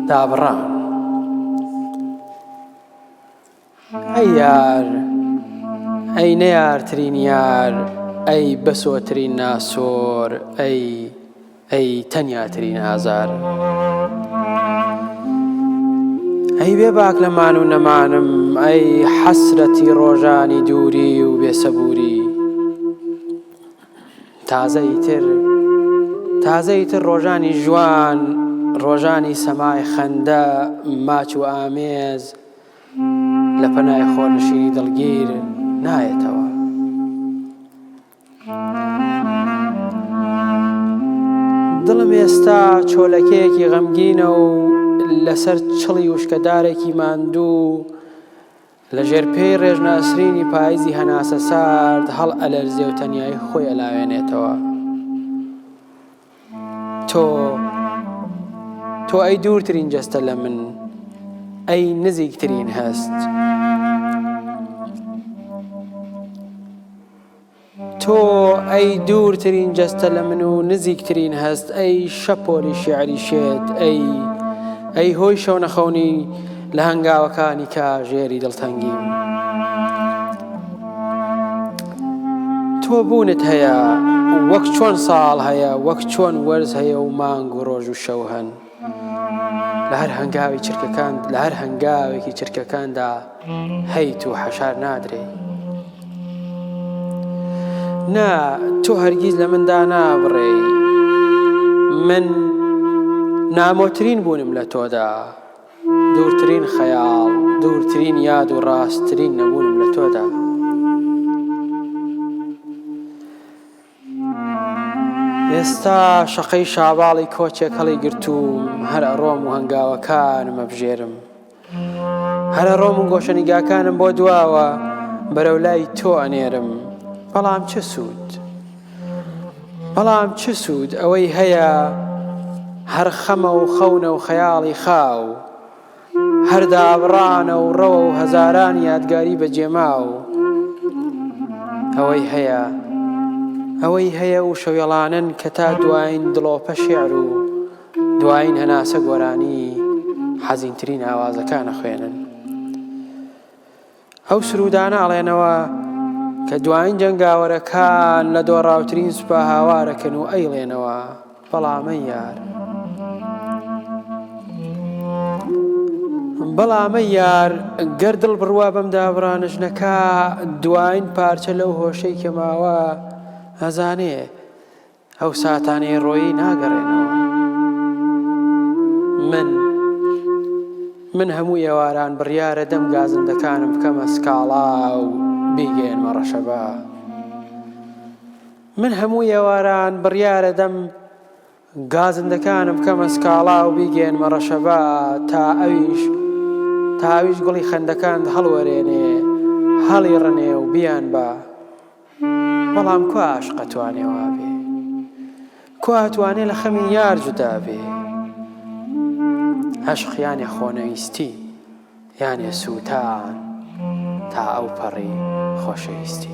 دابڕا ئەی یار ئەی نەیارترین یار ئەی بەسۆترین ناسۆر ئەی ئەی تەنیاترین ئازار ئەی بێ باک لە مان و نەمانم ئەی حەسرەتی ڕۆژانی دووری و بێسەبووری تازەی تر تازەی تر ڕۆژانی ژوان ڕۆژانی سەمای خەندە ماچ و ئامێز لە پەنای خۆنشینی دڵگیر نایەتەوە دڵم ئێستا چۆلەکەیەکی غەمگینە و لەسەر چڵی وشکەدارێکی ماندوو لە ژێر پێی ڕێژناسرینی پاییزی هەناسە سارد هەڵ ئەلەرزێ و تەنیایی خۆی ئەلاوێنێتەوە تۆ تۆ ئەی دوورترین جەستە لە من ئەی نزیکترین هەست. تۆ ئەی دوورترین جەستە لە من و نزیکترین هەست ئەی شەپۆلی شیعری شێت ئەی ئەی هۆی شەونەخەونی لە هەنگاوەکانی کاژێری دڵتەنگی تۆ بوونت هەیە وەک چۆن ساڵ هەیە وەک چۆن وەرز هەیە و مانگ و ڕۆژ و شەو هەن. لە هەر هەنگاوی چرکەکان لە هەر هەنگاوێکی چرکەکاندا هەیت و حەشار نادرێ نا تۆ هەرگیز لە مندا نابڕێ من نامۆترین بوونم لە تۆدا دوورترین خەیاڵ دوورترین یاد و ڕاستترین نەبوونم لە تۆدا ئێستا شەقەی شاباڵی کۆچێک هەڵی گرتووم هەر ئەڕۆم و هەنگاوەکانم ئەبژێرم هەر ئەڕۆم و گۆشەنیگاکانم بۆ دواوە بەرەو لای تۆ ئەنێرم بەڵام چ سوود بەڵام چ سوود ئەوەی هەیە هەر خەمە و خەونە و خەیاڵی خاو هەر دابڕانە و ڕەوە و هەزاران یادگاری بەجێماو ئەوەی هەیە ئەوەی هەیە و شەوێڵانن کە تا دوایین دڵۆپە شێعر و دوایین هەناسە گۆرانی حەزینترین ئاوازەکانە خوێنن ئەو سرودانە ئەڵێنەوە کە دواین جەنگاوەرەکان لە دۆڕاوترین سوپا هاوارەکەن و ئەیڵێنەوە بەڵامە یار بەڵامە یار گەر دڵ بڕوا بەم دابڕانش نەکا دواین پارچە لەو هۆشەی کە ماوە هەزانێ ئەو ساتانەی ڕۆیی ناگەڕێنەوە. من من هەموو ئێواران بڕیارە دەم گازندەکانم بکەمە سکاڵا و بیگەێنمە ڕەشەبا. من هەموو ئێواران بڕیارە دەم گازندەکانم بکەمە سکاڵا و بیگەێنمە ڕەشەبا تا ئەویش تاویش گوڵی خەندەکان هەڵوەرێنێ هەڵی ڕنێ و بیان بە. بەڵام کوا ئاشق ئەتوانێ وابێ؟ کوا ئەتوانێ لە خەمی یار جودا بێ؟ عەشق یانێ خۆنەویستی یانێ سووتان تا ئەو پەڕی خۆشەویستی